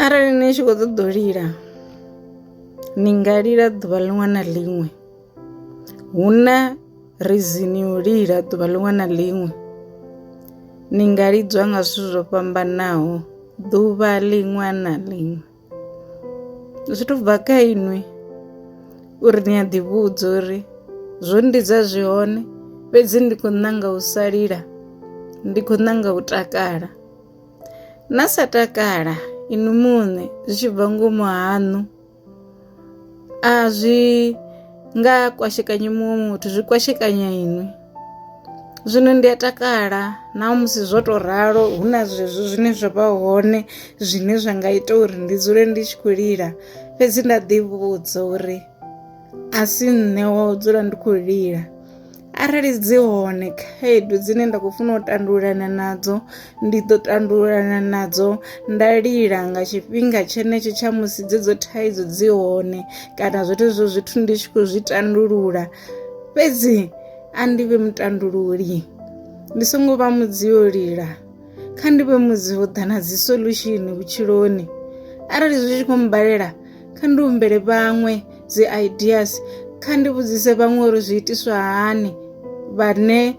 Arali ni tshi kho ṱoḓa u lila ni nga lila ḓuvha ḽiṅwe na ḽiṅwe, hu na reason yo lila ḓuvha ḽiṅwe na ḽiṅwe ni nga lidzwa nga zwithu zwo fhambanaho ḓuvha ḽiṅwe na ḽiṅwe. Zwi to bva kha inwi uri ni a ḓi vhudza uri zwo no lidza zwi hone fhedzi ndi khou ṋanga u sa lila ndi khou ṋanga u takala. na sa takala inwi muṋe zwi tshi bva ngomu haṋu a zwi nga kwashekanyi muṅwe muthu zwi kwashekanya inwi zwino ndi a takala na musi zwo to ralo hu na zwezwo zwine zwa vha hone zwine zwa nga ita uri ndi dzule ndi tshi khou lila fhedzi nda ḓi vhudza uri a si nṋe wa u dzula ndi khou lila arali dzi hone khaedu dzine nda khou funa u tandululana nadzo ndi ḓo tandululana nadzo nda lila nga tshifhinga tshenetsho tsha musi dzedzo thaidzo dzi hone kana zwoṱhe zwo zwithu ndi tshi khou zwi tandulula fhedzi a ndi vhe mutandululi ndi songo vha mudzi yo lila kha ndi vhe mudzi ho ḓa na dzi solution vhutshiloni arali zwi tshi khou mbalela kha ndi humbele vhaṅwe dzi ideas kha ndi vhudzise vhaṅwe uri zwi itiswa hani vhane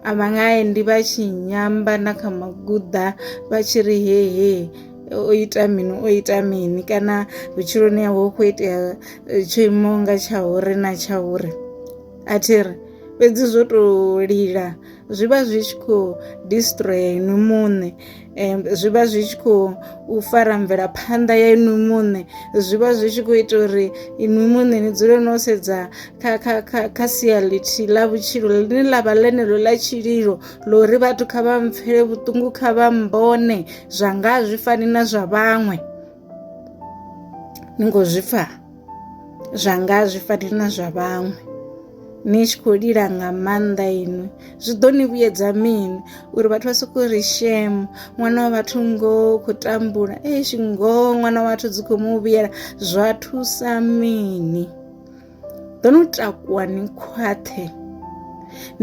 a vha nga endi vha tshi nyamba na kha maguḓa vha tshi ri hehe o ita mini o ita mini kana vhutshiloni hawe hu khou itea eh, tsho imaho nga tsha uri na tsha uri a thi ri fhedzi zwo tou lila zwi vha zwi tshi khou destroyer inwi muṋe um zwi vha zwi tshi khou u fara mvelaphanḓa ya inwi muṋe zwi vha zwi tshi khou ita uri inwi muṋe ni dzule no sedza kha kha kha kha sia lithihi ḽa vhutshilo ḽine ḽa vha ḽeneḽo ḽa tshililo ḽa uri vhathu kha vha mpfele vhuṱungu kha vha mbone zwa nga zwi fani na zwa vhaṅwe ni ngo zwi pfha zwanga zwi fani na zwa vhaṅwe ni tshi khou lila nga maanḓa inwi zwi ḓo ni vhuyedza mini uri vhathu vha sokou ri shemo ṅwana wa vhathu ngo khou tambula eish ngoho ṅwana wa vhathu dzi khou mu vhuyela zwa thusa mini ḓo no takuwa ni khwaṱhe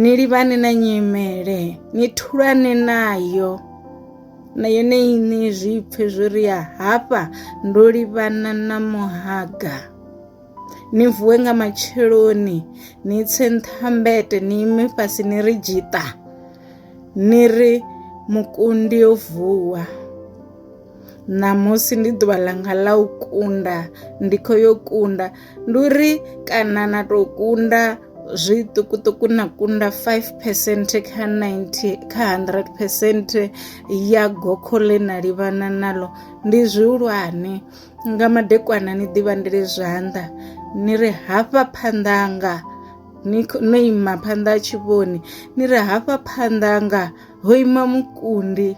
ni livhane na nyimele ni thulane nayo na yone iṋe zwi pfe zwo ri ya hafha ndo livhana na muhaga ni vuwe nga matsheloni ni tse nṱhambete ni ime fhasi ni ri dzhita ni ri mukundi yo vuwa ṋamusi ndi ḓuvha ḽanga ḽa u kunda ndi khou yo kunda ndi uri kana na tou kunda zwiṱukuṱuku na kunda 5 percent kha 90 kha 100 percent ya gokho ḽe na livhana nalo ndi zwihulwane nga madekwana ni ḓivhandele zwanḓa ni ri hafha phanḓanga ni no ima phanḓa ha tshivhoni ni ri hafha phanḓanga ho ima mukundi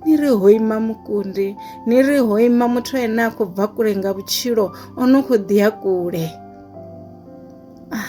ni ri ho ima mukundi ni ri ho ima muthu ene a khou bva kule nga vhutshilo o no khou ḓi ya kule ah.